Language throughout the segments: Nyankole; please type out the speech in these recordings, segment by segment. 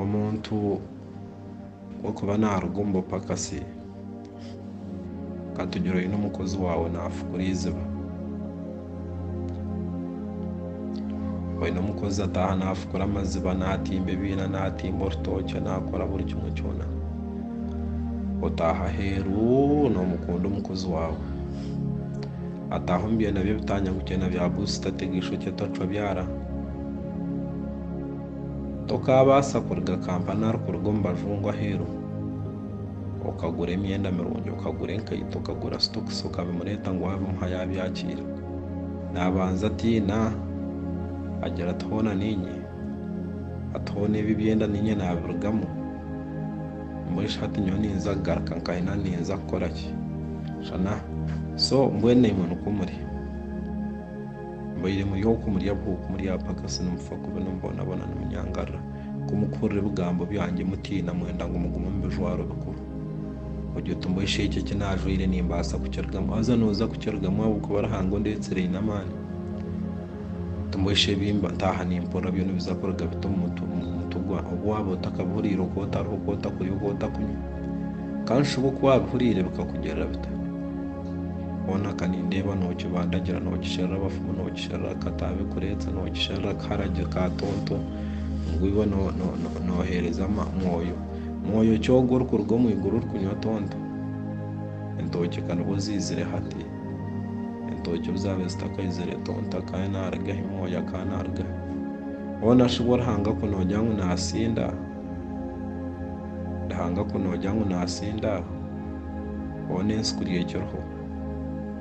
Omuntu w'okuba naaruga omu bupakasi, katugire oine omukozi waawe naafukura eiziba, oine omukozi ataaha naafukura amaziba, naatimba ebiina, naatimba orutookye, naakora buri kimwe kyona, otaaha aheeru noomukunda omukozi waawe. Ataaha omu byenda bye ebitaanya gutya na bya buusita tega eishokye tocwa byara. Tokaabaasa kuriga Kampani arikuruga omu bajungu aheeru okagura emyenda mirungi, okagura enkaito, okagura sitokisi okabimureeta ngu waabimuha yaabyakiira. Naabanza atiina agira ati hoona niinye? Ati hoona ebi ebyenda niinye naabirugamu? Mbwenu hati nyowe ninza kugaruka nkahina ninza kukora ki? Shana, So, mbwenu imwe nikwo muri. Mubaire muri oku muri abu oku muri abapakasi nimufa kubi nimubonabona nimunyangarira. Ku mukuhurira ebigambo byangye mutiina mwenda ngu mugume omu bijwaro bikuru. Ogye oti mbwenu shi eki eki naajwaire nimbaasa kukirugamu? Haza nooza kukirugamu ahabw'okuba Ruhanga ondeetsire aine amaani. Timwesha ebi ntaaha nimpurira byona ebiza kuruga biti omu mutwe gwange. Obu waaba otakabihuriire, oku otariho, oku otakurya, oku otakunywa, ka nshuba oku waabihuriire bikakugirira bita? Hoona ka nindeeba nookibandagira, nookisherura abafumu, nookisherura akataabe kureetsa, nookisherura akaharagi ka tonto, ngu iwe nooheereza mwoyo. Mwoyo ki ogwo orikuruga omu iguru orikunywa tonto? Entookye ka nibwo ziizire hati. Entookye obu zaabaire zitakaizire tonto akaba naarugaho, emoondi akaba naarugaho. Hoona shi bwo Ruhanga ku noogira ngu naasinda? Ruhanga ku noogira ngu naasinda, hoona ensi kuri ekiriho,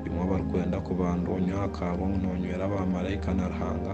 bimwe abarikwenda kubandwa onywe aha kaarwa ngu noonywera baamaraika na Ruhanga.